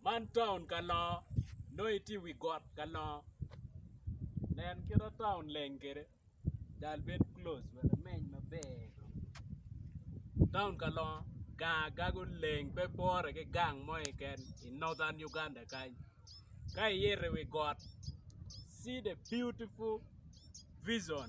Man taun ka longo nongo itye i wi got ka longo nen kite taun leng kede dal bed close wek imeny maber taun ka longo gang agaga oleng pe pore ki gang mo keken i northern Uganda kany ka iito i wi got see the beautiful vision.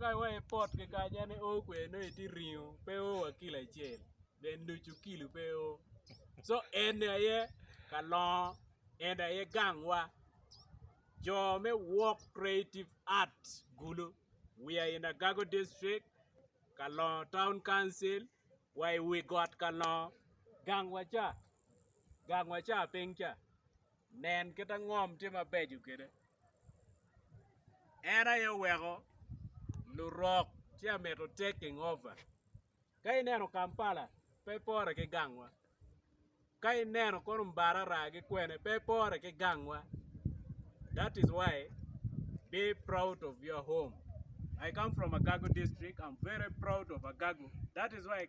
Ka wa i pot kikanya ni oo kwer nongo itye ringo pe oo wa kilo acel dong ducu kilo pe oo co eni aye ka longo eni aye gang wa jo me work creative art gulu we are in agago district kalongo town council wa i wi got kalongo gang wa ca. gang wa ca piny ca nen kita ngom tye mabeco kede en aye oweko lurok ci amito taking over ka ineno kampala pe pore ki gang wa ka ineno kono mbarara ki kwene pe pore ki gang wa that is why be proud of your home I come from agago district am very proud of agago that is why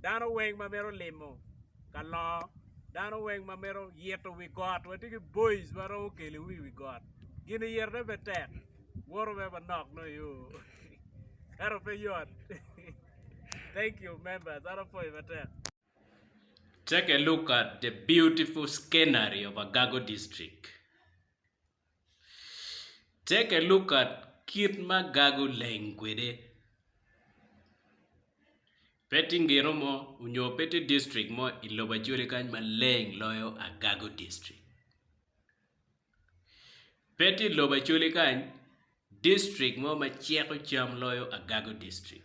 dano weng ma mito limo ka longo dano weng ma mito ito wi got watye ki boiz ma romo keliwu i wi got gin itone pe tek woto mere manok nongo iyo ento pe yot thank you members an apwoyi matek. Take a look at the beautiful scenery of Agago District. Ceke Luka kit ma gago leng kwede. Pe tye ngino mo nyo pe tye distrik mo i lobo Acholi kany ma leng loyo Agago distrik. Pe tye i lobo Acholi kany distrik mo ma ceko cam loyo Agago distrik.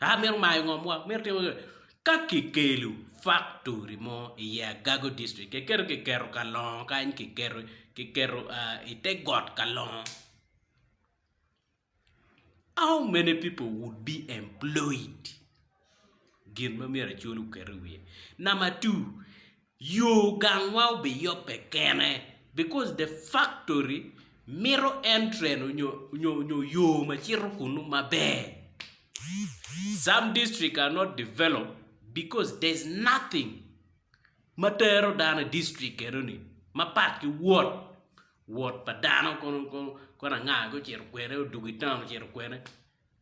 a mito mayo ngom wa mito timo kene ka kikelo faktori mo i ye agago district kiketo kiketo kalongo kany kiketo kiketo i te got kalongo how many people would be employed gin ma myero acwal oket i wiye number two. Yo gangwa obiyobbe kene because the factory mito entren onyo yo macito kunu maber. Some district are not develop because there's nothing matero dano i district enoni mapat ki wot, wot pa dano kono anga kong ocito kwene odwogo i town ocito kwene.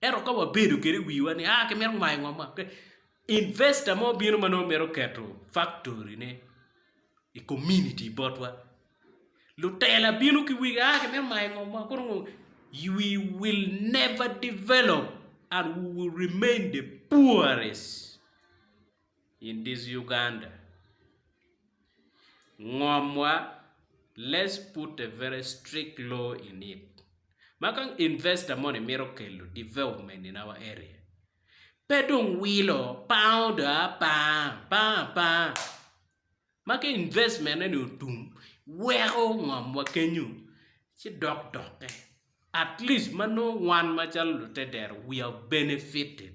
Ento ka wabedo kede i wiwa ni aa kimito mayo ngomwa, investa mo bino ma nongo mito keto faktori ne i kominiti botwa, lutela bino ki wigi aa kimito mayo ngomwa kono ngo you will never develop and we will remain the poorest. in this Uganda ngomwa let's put a very strict law in it ma ka investor moni mito kelo development in our area pe dong wilo pango dong a panga apanga ma ka investment eni otum weko ngomwa kenyo ci dok dokke atleast ma nongo wan macalo lute dero we are benefited.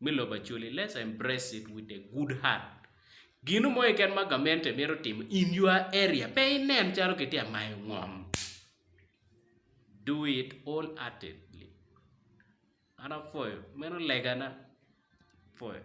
me lobo Acholi, Let's embrace it with a good heart. Gino mo keken ma gamente mito timo in your area, pe inen calo kitye ka mayo ngom. Do it wholeheartedly. An apwoyo, meno legana. Apwoyo.